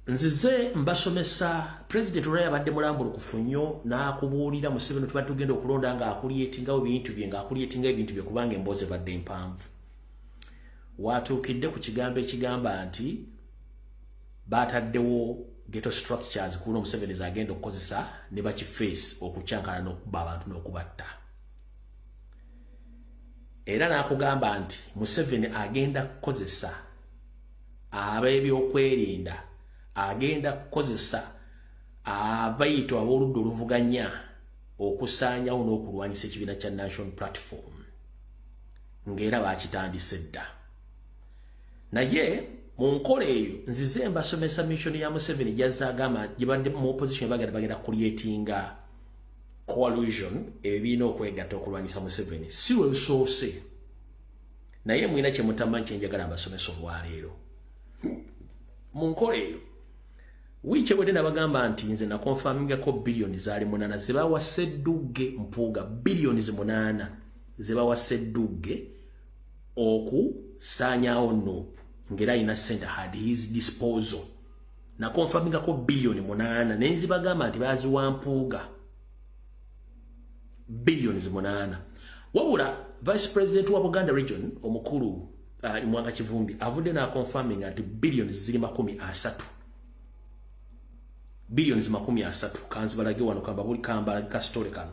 nzize mbasomesa president olwa yabadde mulambulukufu nnyo n'akubuulira museveni tuba tugenda okulonda ng'akulyetingawo ebintu bye ng'akulyetingawo ebintu bye kubanga emboozi ebadde mpanvu waatuukidde ku kigambo ekigamba nti baataddewo geto structures kuuno museveni zagenda okukozesa ne bakifeesi okukyankana n'okuba abantu n'okubatta era n'akugamba nti museveni agenda kukozesa ab'ebyokwerinda agenda kukozesa abayito ab'oludda oluvuganya okusaanyawo n'okulwanyisa ekibiina kya national platform ng'era bakitandise dda naye mu nkola eyo nzize mbasomesa mission ya museveni gyazze agamba gye badde mu opposition bagenda bagenda kulyetinga coalition ebyo birina okwegatta okulwanyisa museveni si lwe lusoose naye mwina kyemutamanyi kyenjagala mbasomesa olwaleero mu nkola eyo wiiki ewedde nabagamba nti nze nakonfamingako biliyoni zaali munaana zebawa seddugge mpuuga biliyoni zi munaana zebawa seddugge okusaanyawo nup ngaera alina sente had his disposal nakonfamingako biliyoni munaana naye nzibagamba nti baziwa mpuuga billions munana wabula vice president wa buganda region omukulu uh, imwanga kivumbi avudde na confirming anti billions ziri makumi asatu billions makumi asatu kanzibalage wano kamba buli kamba kasitole kano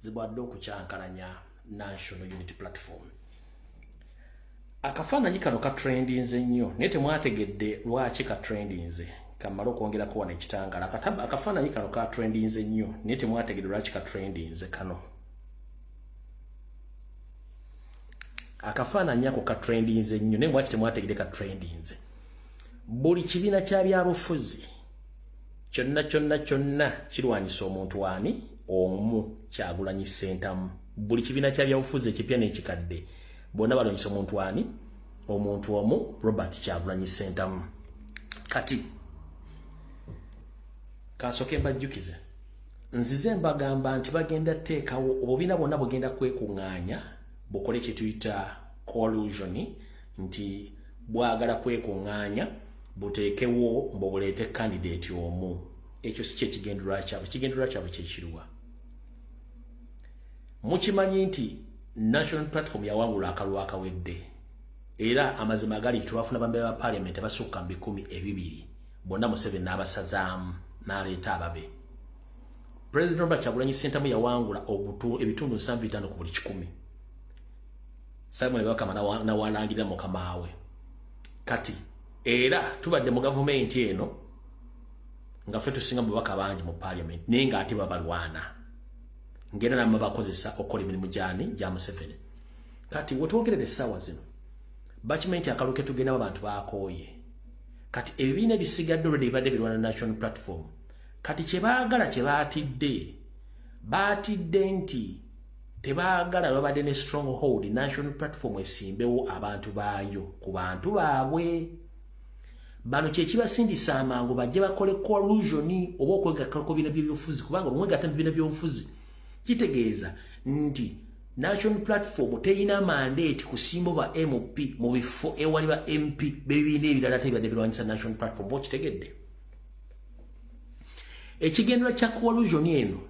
zibadde okukyankalanya national unity platform akafaananyi kano katrendinze nnyo naye temwategedde lwaki katrendinze kamala okwongera kuwona ekitangala akafaananyi kano katrendinze nnyo naye temwategedde lwaki katrendinze kano akafaananyi ako katrendinze nnyo naye mwaki temwategedde katrendinze buli kibiina kya byabufuzi kyonna kyonna kyonna kirwanyisa omuntu ani omu kyagulanyi sentamu buli kibiina kya byabufuzi ekipya n'ekikadde bonna balwanyisa omuntu ani omuntu omu robert kyagulanyi sentamu kati kansooke mbajjukize nzize mbagamba nti bagenda teekawo obubiina bwonna bugenda kwekung'anya bukole kyetuyita collusioni nti bwagala kwekung'anya buteekewo mbu buleete kandidati omu ekyo si kyekigenderwa kyabwe ekigenderwa kyabwe kyekiruwa mukimanyi nti national platform yawangula akalwa akawedde era amazima agali twafuna bambe ba parliament abasukka mu bikumi ebibiri bonna museveni n'abasazaamu n'aleeta ababe president robert kyagulanyi sentamu yawangula ebitundu nsanvu itaano ku buli kikumi simon bakama nawalangirira mukamaawe kati era tubadde mu gavumenti eno nga ffe tusinga mubaka bangi mu paliament naye nga ate babalwana ngera nama bakozesa okukola emirimu gyani gya museveni kati wetwogerera essaawa zino bakimanyi nti akalu ketugendamu abantu bakooye kati ebibiina ebisigadde olwedde bibadde birwana national platform kati kyebaagala kyebaatidde baatidde nti tebaagala babadde ne strong hold national platform esimbewo abantu baayo ku bantu baabwe bano kyekibasindisa amangu bajje bakole collusion oba okwegattako bina byobufuzi kubanga bwemwegatta mu bina byobufuzi kitegeeza nti national platform teyina mandate kusimba ba mp mu bifo ewali ba mp bebibiina ebirala tebibadde birwanyisa national platform ba okitegedde ekigendera kya collusion eno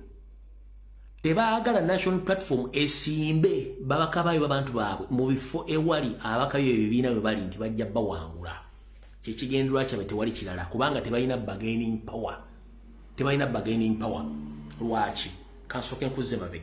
tebaagala national platform esimbe babakabayo babantu baabwe mu bifo ewali abakayo ebibiina bwe bali nti bajja bawangula kyekigendera kyabwe tewali kirala kubanga tebalina bargaining power tebalina bargaining power lwaki kansooke nkuzze mabega